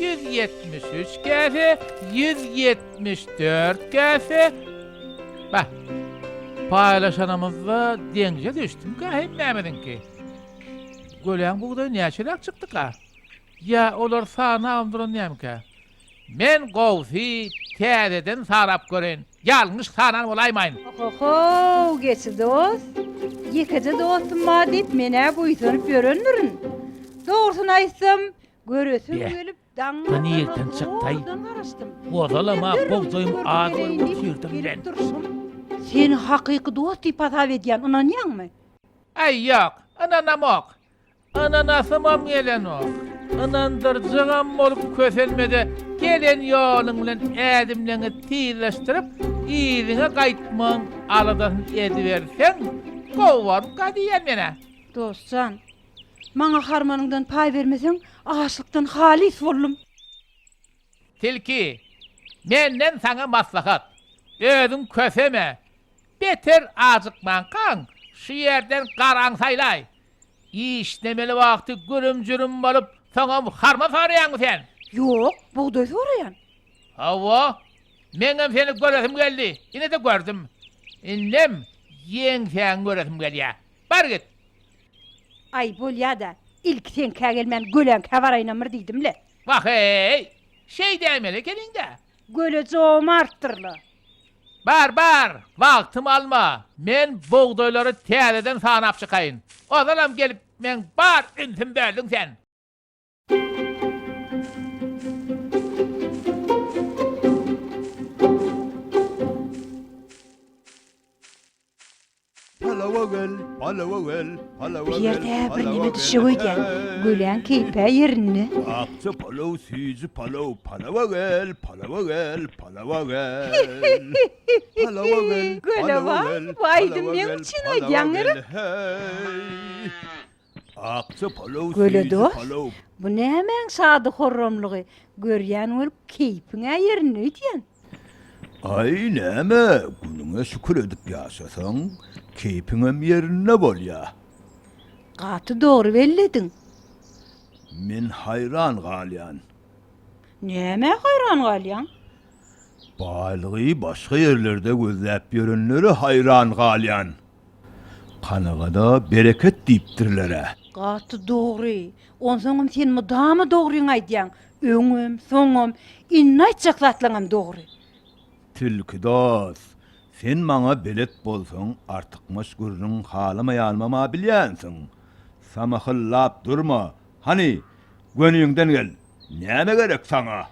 Ýüz ýetmiş üç käse, ýüz ýetmiş dört käse, bah, paýlaşanymyzda deňze düşdümikä hemmämiziňki? Göläň bugdaýy näçeräk çykdyka? Ýa olar sanagamdyr nämekä? Men gowsy täzeden sanap göreýin. Ýalňyş sanan bolaýmaýyn. Ohohow geçi dost. Ýekeje dostum bar diýip men-ä buýsanyp ýörendirin. Dogrusyny aýtsam, göresim gelip daň azandan zordan garaşdym. Ýöne derrewjem gördüm gereýin diýip gelip durşum. Seni hakyky dost diýip hasap edýän, ynanýaňmy? Aý ýok, ynanamok. Ananasymam gelenok. Ynandyrjygam bolup kösenme-de, gelen ýoluň bilen ädimleňi tizleşdirip, yzyňa gaýtmagyň aladasyny ediberseň, gowy bolka diýýän men-ä. Dost jan, maňa harmanyňdan paý bermeseň, açlykdan halys boldum. Tilki, Menden saňa maslahat, özüň köseme, beter ajykmankaň, şu ýerden garaň saýlaý. Işlemeli wagty gürüm-jürüm bolup, soňam harma soraýaňmy sen? Ýok, bugdaý soraýan. Hawa, meňem seni göresim geldi, ine-de gördüm. Indem ýeňsäňi göresim gelýär. Bar git! Aý, bolýa-da, ilki seňkä gelmän, göleňkä baraýynamyr diýdim-le. Wah-eý! Şeý däýmeli ekeniň-dä! Göle jomartdyr-la. Bar, bar, wagtymy alma. Men bugdaýlary täzeden sanap çykaýyn. Ozalam gelip, meň bar ünsüm böldüň sen. Palawa gel, palawa gel, palawa gel. Bir ýerde bir neme düşüp öýdýän. Güläň keýpä ýerinde. Akja palaw, süýji palaw. Palawa gel, palawa gel, palawa gel. Palawa gel, palawa gel, palawa gel, palawa gel. Hey! Akja palaw süýji Göle dost, palaw. bu nämäň şady-horramlygy, görýän bolup keýpiň-ä ýerinde öýdýäň. Aý, näme, günüňe şükür edip ýaşasaň, keýpiňem ýerinde bolýa. Gaty dogry bellediň. Men haýran galýan. Nämä haýran galýaň? Baýlygy başga ýerlerde gözläp ýörenlere haýran galýan. Kanagada bereket diýipdirler-ä. Gaty dogry. Onsoňam sen mydama dogryňy aýdýaň. Öňem, soňam, indi aýtjak zatlaňam dogry. Tilki dos, sen maňa belet bolsaň artykmaç gürrüň halamaýanymam-a bilýänsiň. Samahyllap durma. Hany, göniňden gel. Näme gerek saňa?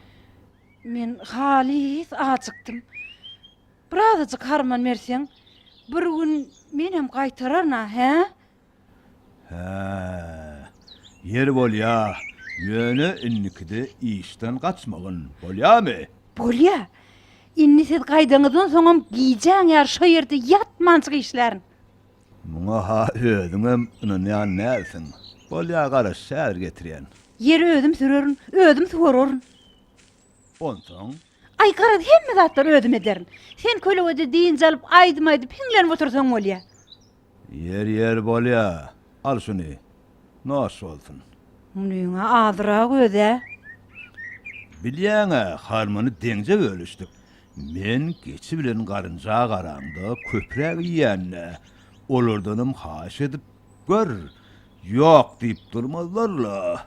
Men halys ajykdym. Birazajyk harman berseň, bir gün menem gaýtararyn-a, hä? Hä, ýeri bolýa, ýöne indikide işden gaçmagyn, bolýamy? Bolýa. Indi siz gaýdaňyzdan soňam gijäň ýary şo ýerde ýatmanjyk işlärin. Muňa-ha özüňem ynanýan dälsiň. Bolýa, garaş, häzir getirýän. Ýeri özüm sürerin, özüm suwararyn. Onsoň. Aý, garaz, hemme zatlary özüm ederin. Sen kölegede dynç alyp, aýdym aýdyp, hiňlenip otursaň bolýa. Ýer, ýer, bolýa. Al şuny. Nos bolsun. Munyň-a azyrak öz-ä. Bilýäň-ä, harmany deňje bölüşdik. Men geçi bilen garynja garaňda köpräk iýän-dä. Olardanam haýyş edip gör. Ýok diýip durmazlar-la.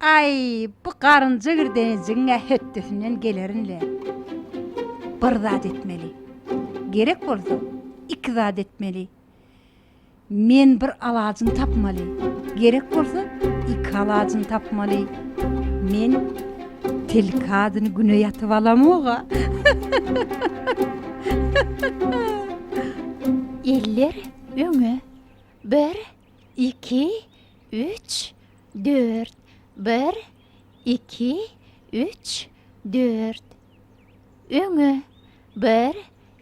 Aý, bu garynja girdenejigiň-ä hötdesinden gelerin-le. Bir zat etmeli. Gerek bolsa, iki zat etmeli. Men bir alajyny tapmaly. Gerek bolsa, iki alajyny tapmaly. Men tilki adyny güne ýatyp alamog-a. Eller öňe. Bir, Iki, üç, dört, bir, iki, üç, dört. Öňe, bir,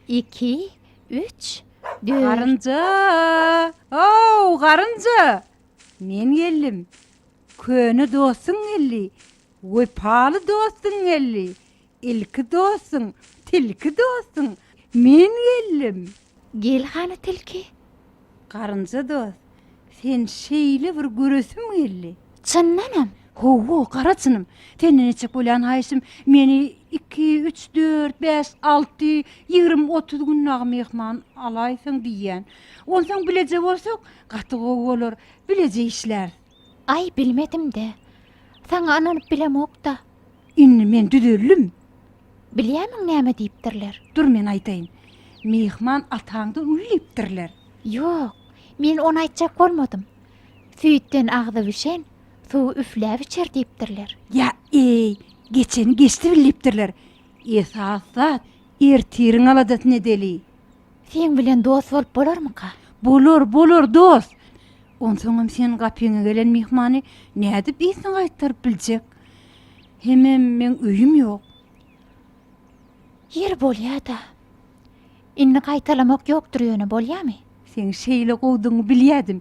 iki, üç, dört. Garynja! Ow, garynja! Men geldim. Köne dostuň geldi. Wepaly dostuň geldi. Ilki dostuň, tilki dostuň, men geldim. Gel hany tilki. Garynja dost, sen şeýle bir göresim geldi. Çyndanam? Hawa, gara çynym. Senden etjek bolýan haýyşym, meni iki, üç, dört, bäş, alty, ýigrimi, otuz gün dagy myhman alaýsaň diýýän. Onsoň bileje bolsak, gaty gowy bolar. Bileje işläris. Aý, bilmedim-dä. Saňa ynanyp bilemok-da. Indi men düzeldim. Bilýärmiň näme diýipdirler? Dur, men aýdaýyn. Myhman ataňdan uly diýipdirler. Ýok, men ony aýtjak bolmadym. Süýtden agzy bişen, suwy üfläp içer diýipdirler. Ýa-eý, geçeni geçdi bil diýipdirler. Esas zat, ertiriň aladasyny edeli. Seň bilen dost bolup bolarmyka? Bolar, bolar, dost! Onsoňam sen gapyňa gelen myhmany nädip ysyna gaýtaryp biljek? Hemem meň öýüm ýok. Ýeri bolýa-da. Indi gaýtalamak ýokdur ýöne, bolýamy? Seň şeýle gowudygyňy bilýädim.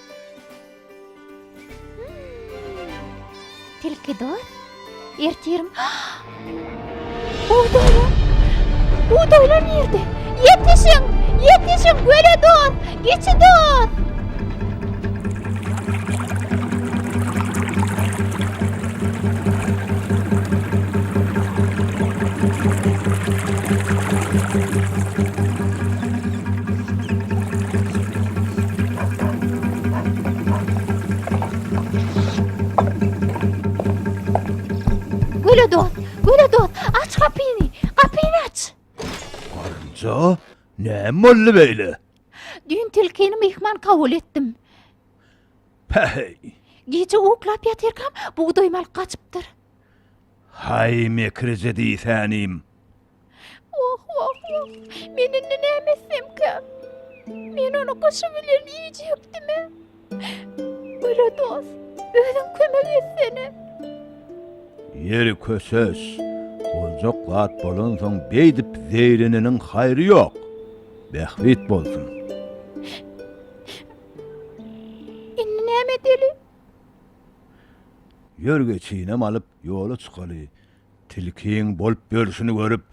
Tilki dost, ertirim. Bugdaýlar! Bugdaýlar nirde? Ýetişiň! Ýetişiň, göle dost! Geçi dost! Göle dost, göle dost, aç gapyny, gapyny aç! Garynja, näme boldy beýle? Düýn tilkini myhman kabul etdim. Päheý! Gije uklap ýatyrkam, bugdaýymy alyp gaçypdyr. Haý, mekirje diýsänim! Woh-woh-woh! Men indi näme etsemkä? Men ony gyşy bilen iýjekdim-ä. Gara dost, özüň kömek etsene. Ýeri köşeş. Boljak zat bolansoň beýdip zeýreneniň haýry ýok. Bähbit bolsun. Indi näme edeli? Ýör geçinem alyp ýola çykaly. Tilkiň bolup ýörşüni görüp,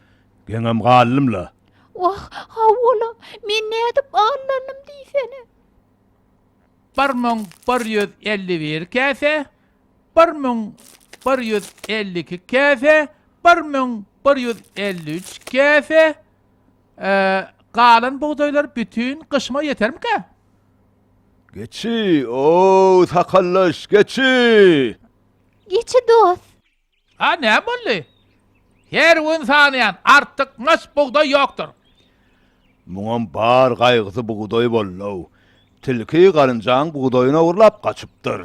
geňem galdym-la. Wah, hawa-la, men nädip aldanym diýsene. Bir müň bir ýüz elli bir käse, bir müň bir ýüz elli iki käse, bir müň bir ýüz elli üç käse, e, galan bugdaýlar bütin gyşyma ýetermikä? Geçi, o-ow, sakaldaş, geçi! Geçi dost! A näme boldy? Her gün sanaýan, artykmaç bugdaý ýokdur. Muňam bar gaýgysy bugdaý boldy-ow. Tilki garynjaň bugdaýyny ogurlap gaçypdyr.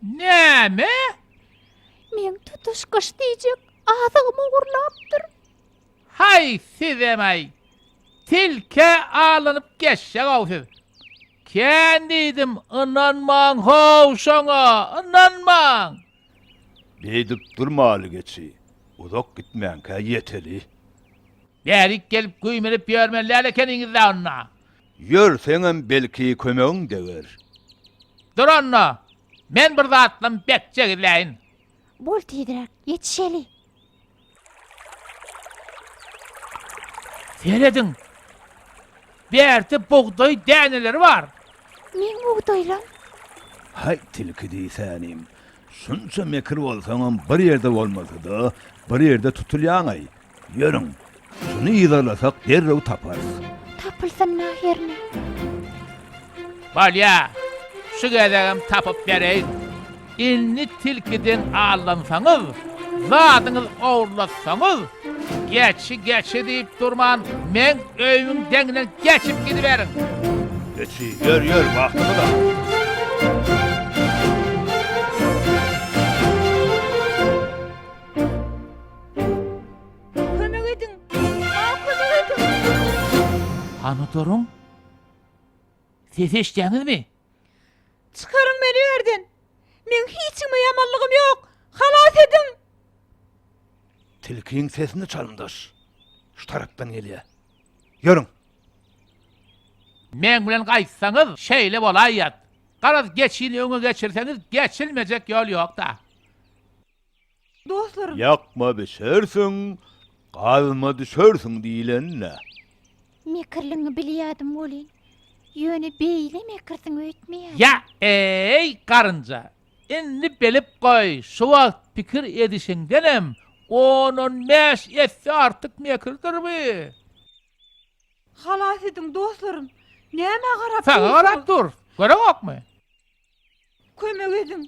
Näme? Meň tutuş gyş diýjek azygymy ogurlapdyr. Haý sizem-aý! Tilkä alanyp geçjek-ow siz. Kän diýdim, ynanmaň-how şoňa, ynanmaň! Beýdip durmaly geçi, uzak gitmänkä ýeteli. Bärik gelip güýmenip ýörmeli däl ekeniňiz-dä onda. Ýörseňem belki kömegiň deger. Dur onda, men bir zatlam bekjek edäýin. Bol tizräk, ýetişeli. Serediň. Bärde bugdaý däneleri bar. Meň bugdaýlam. Haý tilki diýsänim. Şunça mekir bolsaňam bir ýerde bolmasada, bir ýerde tutulýaňaý. Ýörüň. Şuny yzarlasak derrew taparys. Tapylsyn nah ýerine. Bolýa, şu gezegem tapyp bereýin. Indi tilkiden aldansaňyz, zadyňyz ogurlatsaňyz, geçi, geçi diýip durman, meň öýümiň deňinden geçip gidiberiň. Geçi, ýör, ýör, wagtyňyz az. Kömek ediň! Maňa kömek ediň! Hany duruň! Sesi eşitýäňizmi? Çykaryň meni ýu ýerden! Meň hiç kime ýamanlygym ýok! Halas ediň! Tilkiň sesini çalymdaş. Şu tarapdan gelýär. Ýörüň! Meň bilen gaýtsaňyz, şeýle bolaýýat. Garaz, geçini öňe geçirseňiz, geçilmejek ýol ýok-da. Dostlarym! Ýakma bişersiň, gazma düşersiň diýlen-dä. Mekirligiňi bilýärdim welin, ýöne beýle mekirsiň öýtmeýärdim. Ýa-eý, garynja! Indi bilip goý, şu wagt pikir edişiňdenem on-on bäş esse artyk mekirdir bu! Halas ediň, dostlarym! Nämä garap dursuňyz? Saňa garap durus, görüňokmy? Kömek ediň!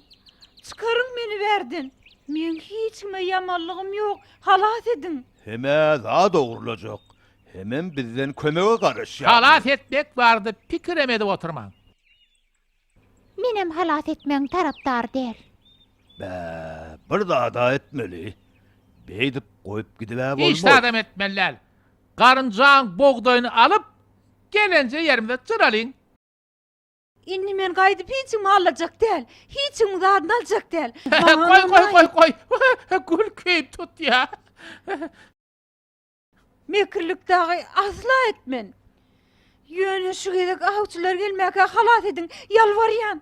Çykaryň meni bärden! Meň hiç kime ýamanlygym ýok! Halas ediň! Hemä zat ogurlajak, hemem bizden kömege garaşýarlar. Halas etmek barada pikirem edip oturmaň. Menem halas etmegiň tarapdary däl. Bä, bir zad-a etmeli. Beýdip goýup gidib-ä bolmaz. Hiç zadam etmeli däl. Garynjaň bogdaýyny alyp, gelenje ýerimize jyralyň. Indi men gaýdyp hiç kimi alajak däl. Hiç kimiň zadyny aljak däl. Goý, goý, goý, goý. Gül keýp tutýar. Mekirlik dagy asla etmen. Ýöne şu gezek awçylar gelmäkä halas ediň, ýalbarýan.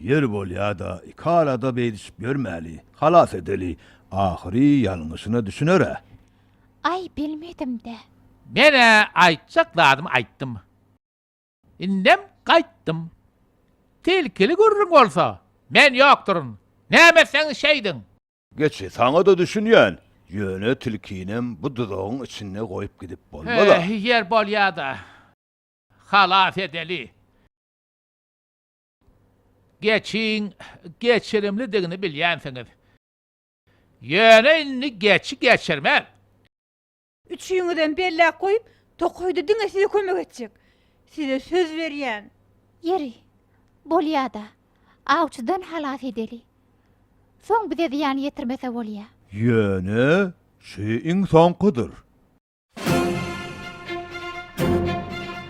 Ýeri bolýa-da, iki arada beýdişip ýörmäli. Halas edeli. Ahyry ýalňyşyna düşüner-ä. Aý, bilmedim-dä. Men-ä aýtjak zadymy aýtdym. Indem gaýtdym. Tilkili gürrüň bolsa, men ýokduryn. Näme etseňiz şeýdiň. Geçi, saňa-da düşünýän. Ýöne tilkinem bu duzagyň içinde goýup gidip bolmaz-a. Ýer bolýa-da. Halas edeli. Geçiň geçirimlidigini bilýänsiňiz. Ýöne indi geçi geçirmez. Üçüňizem belläp goýup, tokaýda diňe size kömek etjek. Size söz berýän. Ýeri, bolýa-da, awçydan halas edeli. Soň bize zyýan ýetirmese bolýa. Ýöne, şu iň soňkudyr.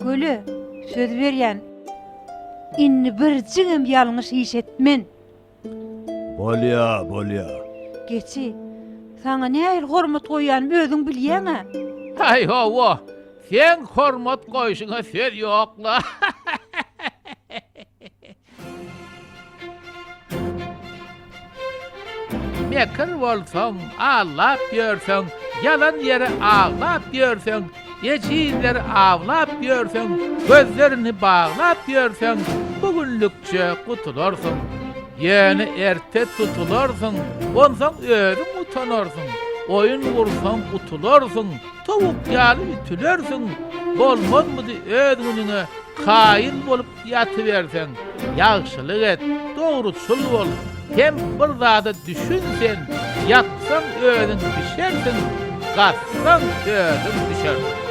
Göle söz berýän indi bir jigim ýalňyş iş etmen. Bolýa bolýa. Geçi saňa nähili hormat goýýanymy özüň bilýäňä. Aý hawa seň hormat goýşuňa söz ýokla. Mekir bolsaň, allap ýörseň, Ýalan ýere aglap ýörseň, Ejizleri awlap ýörseň, Gözlerini baglap ýörseň, Bu günlükçe gutularsyň. Ýöne erte tutularsyň, Onsoň özüň utanarsyň. Oýun gursaň, utularsyň, Towuk ýaly ütülersiň. Bolmazmydy öz günüňe Kaýyl bolup Ýatyberseň, ýagşylyk et, dogruçyl bol, hem bir zada düşün sen, ýatsaň özüň bişersiň, gatsaň özüň düşersiň.